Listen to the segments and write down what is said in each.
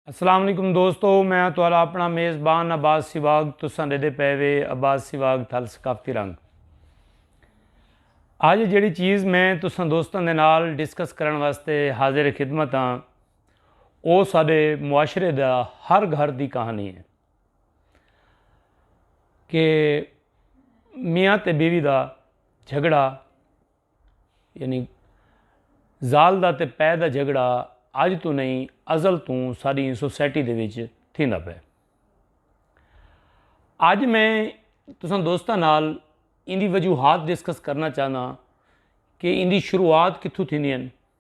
السلام علیکم دوستو میں ہاں تہاڈا اپنا میزبان عباس سیواگ تساں ڈیدے پے وے عباس سیواگ تھل ثقافتی رنگ اج جیڑی چیز میں تساں دوستاں دے نال ڈسکس کرن واسطے حاضر خدمت ہاں او سارے معاشرے دا ہر گھر دی کہانی ہے کہ میاں تے بیوی دا جھگڑا یعنی زال دا تے پے دا جھگڑا اج تو نہیں ازل تو ساری سوسائٹی دے وچ تھیندا پے اج میں تساں دوستاں نال ان دی وجوہات ڈسکس کرنا چاہنا کہ ان دی شروعات کتھوں تھیندی ہیں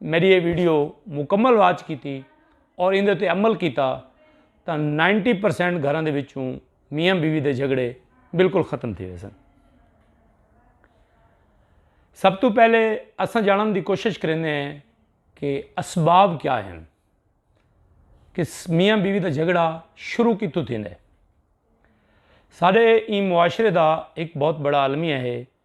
میڈی یہ ویڈیو مکمل واچ کیتی اور ان دے عمل کیتا تا نائنٹی پرسینٹ گھران دے وچوں میاں بیوی دے جھگڑے بالکل ختم تھی ویسن سب تو پہلے اساں جانن دی کوشش کرنے ہیں کہ اسباب کیا ہیں کہ میاں بیوی دا جھگڑا شروع کی تو تھی نے سارے این معاشرے دا ایک بہت بڑا عالمیہ ہے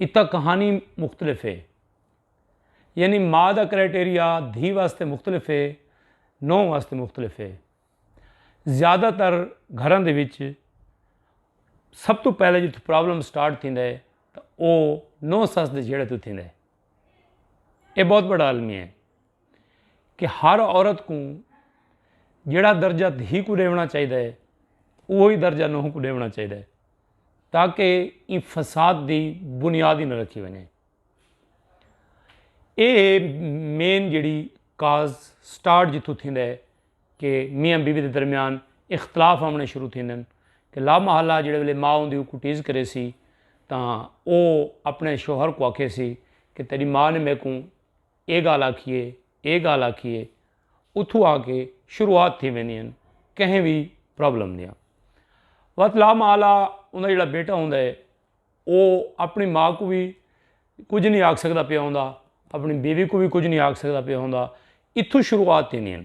اتھاں کہانی مختلف ہے یعنی ما دا کرائٹیریا دھی واسطے مختلف ہے نو واسطے مختلف ہے زیادہ تر گھراں دے وچ سب تو پہلے جتھوں پرابلم سٹارٹ تھیندا ہے تو او نو سس دے جھیڑے تو تھیندا ہے اے بہت بڑا عالمی ہے کہ ہر عورت کو جڑا درجہ دھی کو ڈیونا چاہیے وہی درجہ نوہ کو ڈیونا چاہیے تاکہ ایں فساد دی بنیاد ہی نہ رکھی ونجے اے مین جڑی کاز سٹارٹ جتھوں تھیندا ہے کہ میاں بیوی دے درمیان اختلاف آمنے شروع تھیندن کہ لا محلہ جڑے ویلے ماں ہوندی کو ٹیز کرے سی تاں او اپنے شوہر کو آکھے سی کہ تیری ماں نے میکوں اے گالھ آکھیے اے گالھ آکھیے اتھوں آ کے شروعات تھی ویندی ہن کہیں وی پرابلم دیاں وت لا ماء لا اوندا جیڑا بیٹا ہوندا ہے او اپنی ماء کو وی کجھ نہیں آکھ سکدا پیا ہوندا اپنی بیوی کو وی کجھ نہیں آکھ سکدا پیا ہوندا اتھوں شروعات تھیندی ہن۔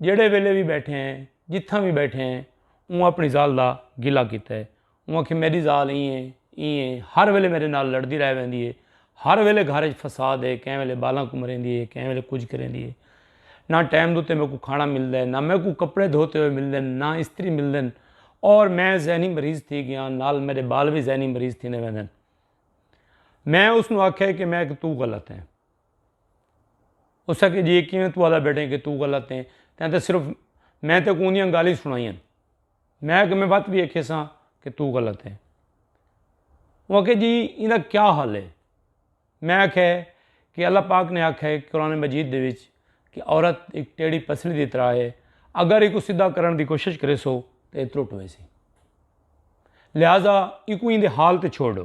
جیڑھے ویلے وی بیٹھے ہیں جتھاں وی بیٹھے ہیں اوں اپنی زال دا گلہ کیتا ہے اوں آکھیا میڈی زال ایں ہے ایں ہے ہر ویلے میڈے نال لڑدی رہ ویندی ہے ہر ویلے گھر اچ فساد ہے کہیں ویلے بالاں کمریندی ہے کہیں ویلے کجھ کریندی ہے نہ ٹائم دے اتے میکوں کھانا ملدا ہے نہ میکوں کپڑے دھوتے ہوئے ملدے ہیں نہ استری ملدے ہیں اور میں ذہنی مریض تھی گیا نال میرے بال بھی ذہنی مریض تھی نے ویندے ہیں میں اس نو آکھیا کہ میں کہ تو غلط ہیں اس آکھیا جی اے کیویں توں آکھدا بیٹھیں کہ توں غلط ایں تیں تاں صرف میں تیکوں اوندیاں گالھیں ای سنڑائیاں میں آکھیا میں وت وی آکھیساں کہ توں غلط ایں او آکھے جی ایندا کیا حل اے میں آکھیا کہ اللہ پاک نے آکھیا اے قرآن مجید دے وچ کہ عورت ہک ٹیڑھی پسلی دی طرح اے اگر ایکوں سدھا کرݨ دی کوشش کریسو تے اے ترٹ ویسی لہذا ایکوں ایندے حال تے چھوڑ ݙو۔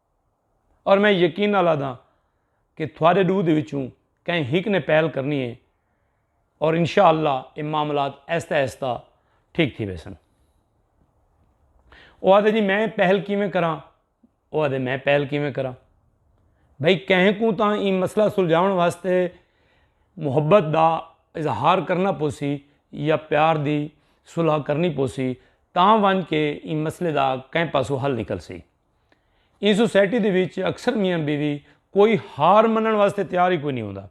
اور میں یقین نال آدھاں کہ تھوڑے ڈو دے وچوں کہیں ہک نے پہل کرنی ہے اور انشاءاللہ اے معاملات ایستا ایستا ٹھیک تھی ویسن۔ او آدھے جی میں پہل کیویں کراں او آدھے میں پہل کیویں کراں بھئی کہیں کوں تاں ایں مسئلہ سلجھاون واسطے محبت دا اظہار کرنا پوسی یا پیار دی صلح کرنی پوسی تاں ونج کے ایں مسئلے دا کہیں پاسو حل نکل سی۔ ایں سوسائٹی دے وچ اکثر میاں بیوی کوئی ہار منݨ واسطے تیار ہی کوئی نی ہوندا۔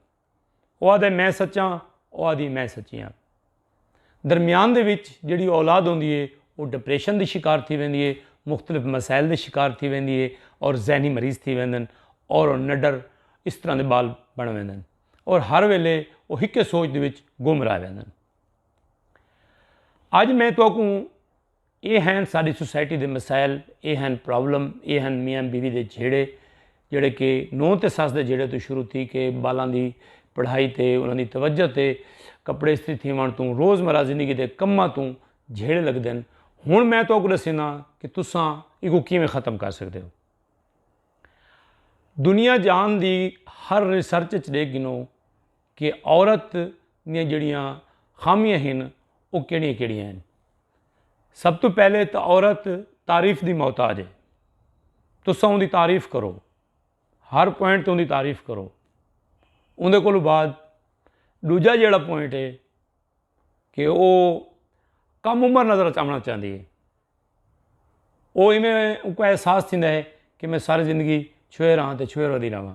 او آہدے میں سچاں او آہدی میں سچی ہاں۔ درمیان دے وچ جیڑھی اولاد ہوندی ہے او ڈپریشن دی شکار تھی ویندی ہے، مختلف مسائل دے شکار تھی ویندی ہے اور ذہنی مریض تھی ویندن اور او نڈر اس طرح دے بال بݨ ویندن اور ہر ویلے او ہکے سوچ دے وچ گم رہ ویندن۔ اج میں تہاکوں۔ اے ہین ساڈی سوسائٹی دے مسائل اے ہین پرابلم اے ہین میاں بیوی دے جھیڑے جڑے کہ نو تے سس دے جھیڑے تو شروع تھی کے بالاں دی پڑھائی تے انہاں دی توجہ تے کپڑے استری تھیوان تو روز مرہ زندگی دے کماں تو جھیڑے لگ دین ہن میں تو کو دسینا کہ تساں ایکو کیویں ختم کر سکدے ہو دنیا جہان دی ہر ریسرچ اچ دیکھ گنو کہ عورت دیاں جڑیاں خامیاں ہن او کیڑیاں کیڑیاں ہن۔ سب توں پہلے تاں عورت تعریف دی محتاج ہے۔ تساں اوندی تعریف کرو۔ ہر پوائنٹ تے اوندی تعریف کرو۔ اوندے کولوں بعد ڈوجا جیڑا پوائنٹ ہے کہ او کم عمر نظر چاونا چاہندی ہے۔ او ایویں اونکوں احساس تھیندا ہے کہ میں ساری زندگی چھوئے رہاں تے چھوئے رہدی رہواں۔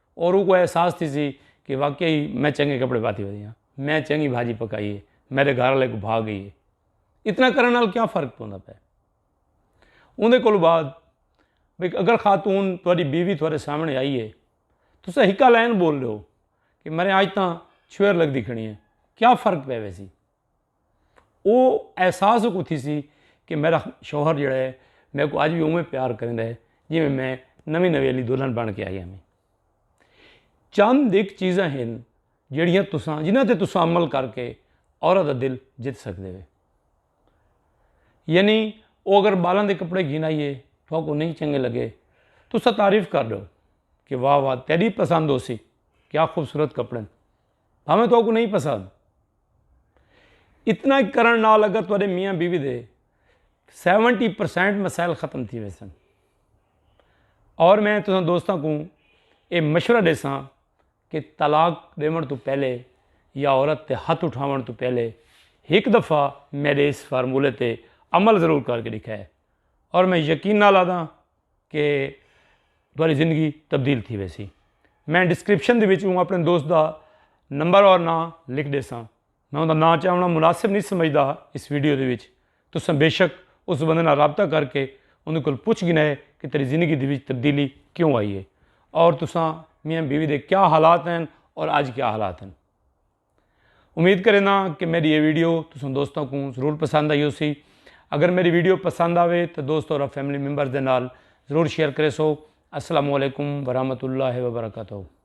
اور اوں کوں اے احساس تھیسی کہ واقعی ای میں چنگے کپڑے پاتی ہوئی ہاں، میں چنگی بھاجی پکائی ہے، میڈے گھر آلے کوں بھا گئی ہے۔ اتنا کرن نال کیا فرق پوندا پئے۔ اوندے کولوں بعد بھئی اگر خاتون تہاڈی بیوی تہاڈے سامنے آئی ہے، تساں ہکا لائن بول ڈیو کہ میڈے اج تاں چھوہر لگدی کھڑی ہے، کیا فرق پئے ویسی۔ او احساس اکوں تھیسی کہ میڈا شوہر جیڑا ہے میں کو اج وی اوویں پیار کریندا ہے جیویں میں نویں نویں علی دلہن بن کے آئی ہاں چند ایک چیزاں ہن جیڑیاں تساں جنہاں تے تساں عمل کر کے عورت دا دل جت سکدے ہو یعنی او اگر بالاں دے کپڑے گھن آئیے تو کو نہیں چنگے لگے تساں تعریف کر دو کہ واہ واہ تیری پسند ہو سی کیا خوبصورت کپڑے بھاویں تہاکوں نئیں پسند۔ اتنا کرݨ نال اگر تہاݙے میاں بیوی دے سیونٹی پرسنٹ مسائل ختم تھی ویسن۔ اور میں تساں دوستاں کوں اے مشورہ ݙیساں کہ طلاق ݙیوݨ توں پہلے یا عورت تے ہتھ اٹھاوݨ توں پہلے ہک دفعہ میݙے اس فارمولے تے عمل ضرور کر کے ݙکھائے اور میں یقین نال آہداں کہ تھوڑی زندگی تبدیل تھی ویسی میں ڈسکرپشن دے وچوں اپنے دوست دا نمبر اور نا لکھ دے ساں میں انہاں دا نا چاہنا مناسب نہیں سمجھدا اس ویڈیو دے وچ تساں بے شک اس بندے نال رابطہ کر کے انہاں کول پوچھ گنا ہے کہ تیری زندگی دے وچ تبدیلی کیوں آئی ہے اور تساں میاں بیوی دے کیا حالات ہیں اور اج کیا حالات ہیں امید کریندہ ہاں کہ میڈی اے ویڈیو تساں دوستاں کوں ضرور پسند آئی ہو سی اگر میری ویڈیو پسند آوے تو دوست اور فیملی ممبرز دے نال ضرور شیئر کرے سو السلام علیکم ورحمۃ اللہ وبرکاتہ